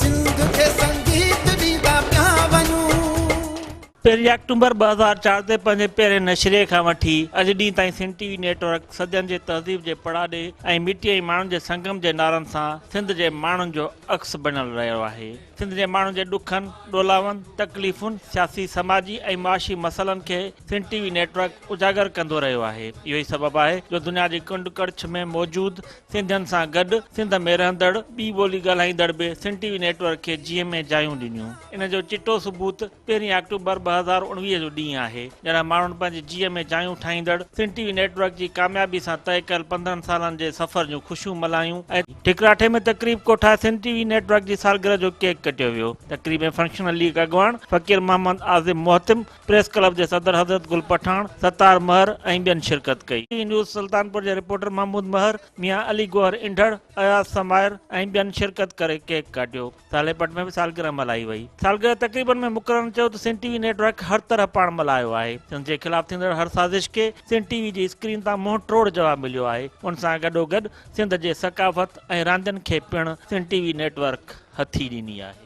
سنڌ کي سنگيت ڏيندا پيا وڃون. پهرين آڪٽومبر ٻه هزار چار تي پنهنجي پهرين نشري کان وٺي اڄ ڏينهن تائين Sindh T V network صدين جي تهذيب جي پڙاڏي ۽ مٽي ۽ ماڻهن جي سنگم جي نعرن سان سنڌ جي ماڻهن جو عڪس بڻيل رهيو آهي سنڌ جي ماڻهن جي ڏکن ڏولاون تڪليفن سياسي سماجي ۽ معاشي مسئلن کي Sindh T V network اجاگر ڪندو رهيو آهي اهو ئي سبب آهي جو دنيا جي ڪنڊ ڪڙڇ ۾ موجود سنڌين سان گڏ سنڌ ۾ رهندڙ ٻي ٻولي ڳالهائيندڙ به Sindh T V network کي جيئن ۾ جايون ڏنيون. ان جو چٽو ثبوت پهرين آڪٽوبر ٻه هزار اڻويهه جو ڏينهن آهي، جڏهن ماڻهن پنهنجي جيئن ۾ جايون ٺاهيندڙ Sindh T V network جي ڪاميابي سان طئي ڪيل پندرهن سالن جي سفر جون خوشيون ملهايون ۽ ٺڪراٺي ۾ تقريب ڪوٺائي Sindh T V network جي سالگرهه جو ڪيڪ ڪٽيو ويو. تقريب ۾ فنڪشنل ليگ اڳواڻ فقير محمد عازم محتم، پريس ڪلب جي صدر حضرت گل پٺاڻ، ستار مهر ۽ ٻين شرڪت ڪئي. ٽي نيوز سلطانپور جي رپورٽر محمود مهر، ميان علي گوهر انڍڙ، اياز سمائر ۽ ٻين شرڪت ڪري ڪيڪ ڪاٽيو. ساليپٽ ۾ به سالگرهه ملهائي وئي. سالگرهه تقريبن ۾ مقررن چيو ته Sindh T V network هر طرح پاڻ ملهايو آهي. سنڌ جي خلاف ٿيندڙ هر سازش کي سنڌ ٽي وي جي اسڪرين تان منهن ٽوڙ جواب مليو آهي. ان سان گڏوگڏ سنڌ جي ثقافت ۽ راندين کي پڻ Sindh T V network هٿي ڏني آهي.